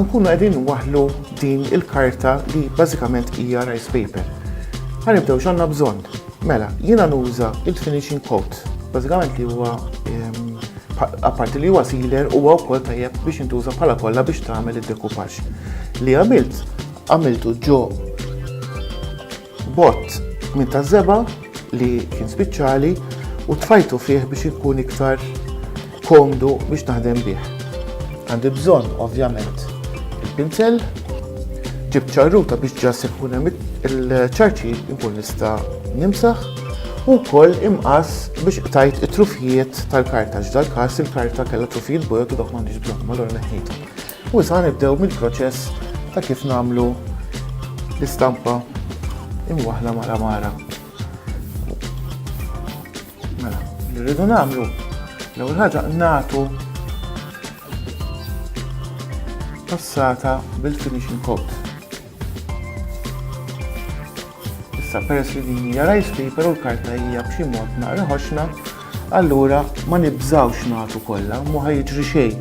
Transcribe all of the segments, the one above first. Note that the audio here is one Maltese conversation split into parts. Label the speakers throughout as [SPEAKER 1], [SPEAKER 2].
[SPEAKER 1] ħankunu għedin waħlu din il-karta li bażikament hija rice paper. Ħanibdew x'għandna bżonn. Mela, jiena nuża il-finishing coat, bażikament li huwa ehm, apparti li huwa sealer huwa wkoll tajjeb biex intuża bħala kollha biex tagħmel id-dekupaġġ. Li għamilt għamiltu ġo Bott minn ta' zeba li kien spiċċali u tfajtu fih biex ikun iktar komdu biex naħdem bih. Għandi bżonn ovvjament il-pinsel, ġib ċarruta biex ġas ikun hemm il-ċarċi ikun nista' nimsaħ u wkoll imqas biex qtajt it-trufijiet tal-karta ġdal każ il-karta kellha trufijiet bojod u dak m'għandix bżonn malor neħħitu. U sa nibdew mill-proċess ta' kif nagħmlu l-istampa imwaħla mara mara. Mela, li rridu nagħmlu l-ewwel ħaġa nagħtu passata bil-finishing coat. Issa peress li din hija rice paper u l-karta hija b'xi mod naqra ħoxna, allura ma nibżawx nagħtu kollha, ma jiġri xejn.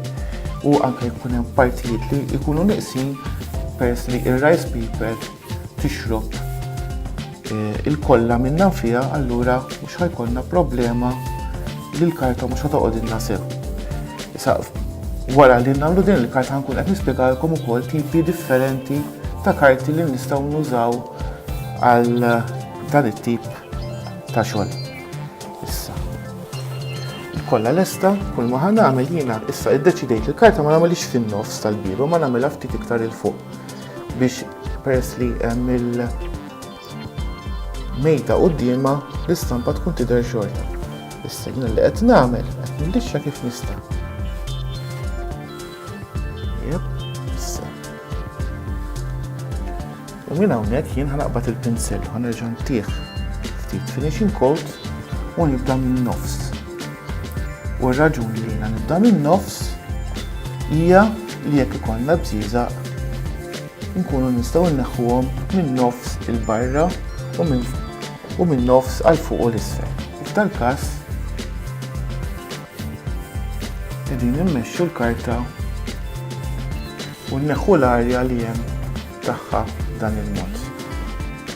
[SPEAKER 1] U anke jkun hemm partijiet li jkunu niqsin peress li ir-rice paper tixrob Ilkollha minnha fiha allura mhux ħa jkollna problema li l-karta mhux ħa toqgħodilna sew. Issa wara li nagħmlu din il-karta ħa nkun qed nispjegalkom ukoll tipi differenti ta' karti li nistgħu nużaw għal dan it-tip ta' xogħol. Issa. Kollha lesta, kull ma ħan nagħmel jiena issa iddeċidejt li l-karta ma nagħmilx fin-nofs tal-biba ma nagħmilha ftit iktar il fuq. biex peress li hemm il-mejta qudiema l-istampa tkun tidher xorta. Issa jien li qed nagħmel qed nillixxa kif nista'. Jep, issa. U minn hawnhekk jien ħanaqbad il-pinsel u ħanerġa' ntih ftit finishing coat u nibda minn nofs. U r-raġuni li jiena nibda min-nofs hija li jekk ikollna bżieżaq nkunu nistgħu nneħħuhom minn nofs il barra u minn u minn nofs għal fuq u l-isfel. F'dal każ qegħdin immexxu l-karta u nneħħu l-arja li hemm tagħha dan il-mod.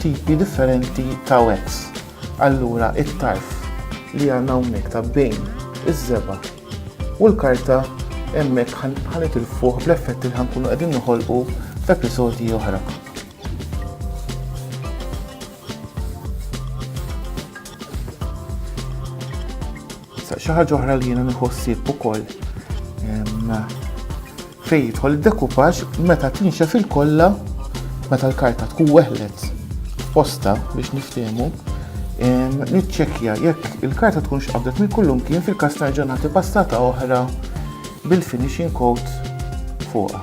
[SPEAKER 1] tipi differenti ta' webs. Allura it-tarf li għandna hawnhekk ta' bejn iż-żeba' u l-karta hemmhekk ħanet il-fuq bl-effetti li ħankunu qegħdin noħolqu f'episodji oħra. Xi ħaġa oħra li jiena nieħu ħsieb ukoll fejn jidħol id-dekupaġġ meta tinxef il-kollha meta l-karta tkun weħlet posta biex niftiehmu niċċekkja jekk il-karta tkun x'qabdet minn kullum kien fil-każ nerġa' nagħti passata oħra bil-finishing coat fuqha.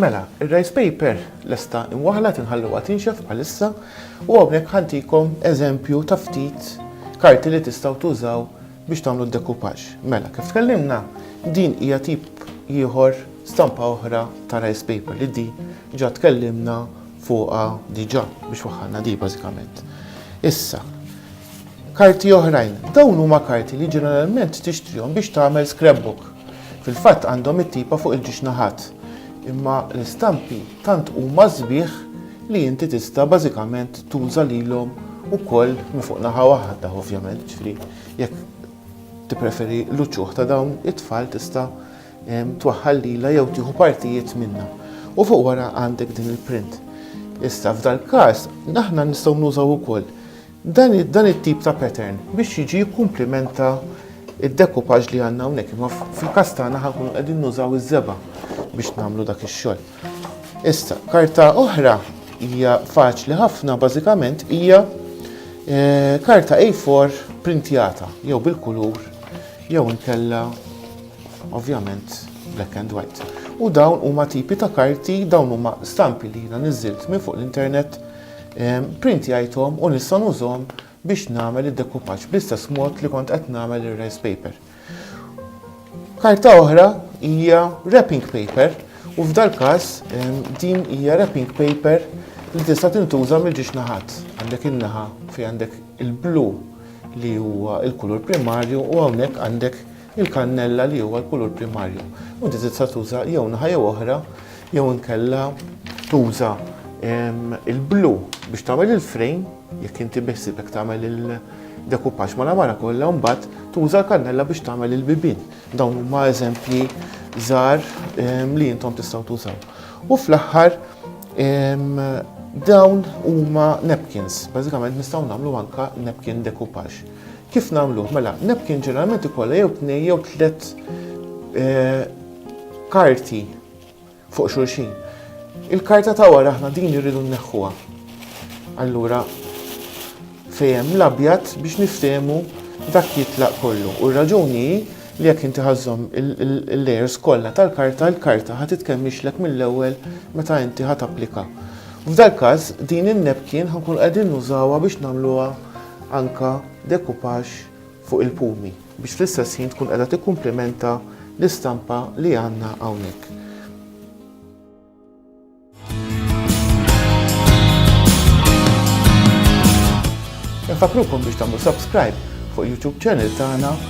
[SPEAKER 1] Mela, ir-rice paper lesta imwaħla tinħalluha tinxef bħalissa u hawnhekk ħantikom eżempju ta' ftit karti li tistgħu tużaw biex tagħmlu d-dekupaġġ. Mela, kif tkellimna, din hija tip ieħor stampa oħra ta' rice paper li di ġa tkellimna fuqha diġà biex waħħalna di bażikament. Issa, Karti oħrajn, Dawn huma karti li ġeneralment tixtrihom biex tagħmel scrapbook. Fil-fatt għandhom it-tipa fuq il-ġiex naħat. Imma l-istampi tant huma sbieħ li inti tista' bażikament tuża lilhom ukoll minn fuq naħa waħda ovvjament, ġifieri jekk tippreferi l-uċuħ ta' dawn it-tfal tista' twaħħal lilha jew tieħu partijiet minnha. U fuq wara għandek din il-print. Issa f'dal-każ aħna nistgħu nużaw ukoll Dan it-tip ta' pattern biex jiġi jikkumplimenta d-decoupage li għandna hawnhekk, imma fil-każ tagħna ħa nkunu qegħdin nużaw iż-żebgħa biex nagħmlu dak ix-xogħol. Issa, karta oħra hija faċli ħafna, bażikament hija eh, karta A4 printjata jew bil-kulur jew inkella ovvjament black and white. U dawn huma tipi ta' karti, dawn huma stampi li jiena niżilt minn fuq l-internet Pprintjajthom u nista' nużhom biex nagħmel id-dekupaġġ bl-istess mod li kont qed nagħmel ir-rice paper. Karta oħra hija wrapping paper u f'dal-każ din hija wrapping paper li tista' tintuża mill-ġiex naħat. Għandek in-naħa fejn għandek il-blu li huwa l-kulur primarju u hawnhekk għandek Il-kannella li huwa l-kulur primarju. U inti tista' tuża jew naħa jew oħra jew inkella tuża il-blu biex tagħmel il-frame jekk inti beħsibek tagħmel il-dekupaġġ ma' lamara kollha u mbagħad tuża l-kannella biex tagħmel il-bibien. Dawn huma eżempji żgħar li intom tistgħu tużaw. U fl-aħħar dawn huma napkins, bażikament nistgħu nagħmlu anke napkin dekupaġġ. Kif nagħmluh? Mela, napkin ġeneralment ikollha jew tnej jew tliet eh, karti fuq xulxin. Il-karta ta' wara aħna din irridu nneħħuha. Allura fejem l-abjad biex niftehmu dak jitlaq kollu. U r-raġuni li jekk inti ħażhom il-layers kollha tal-karta, l-karta ħad titkemmixlek mill-ewwel meta inti ħad applika. F'dal każ din in-nepkin ħankun qegħdin nużawha biex nagħmluha anke dekupaġġ fuq il-pumi, biex fl-istess ħin tkun qiegħda tikkumplimenta l-istampa li għandna hawnhekk. Infakkrukom biex tagħmlu subscribe fuq YouTube channel tagħna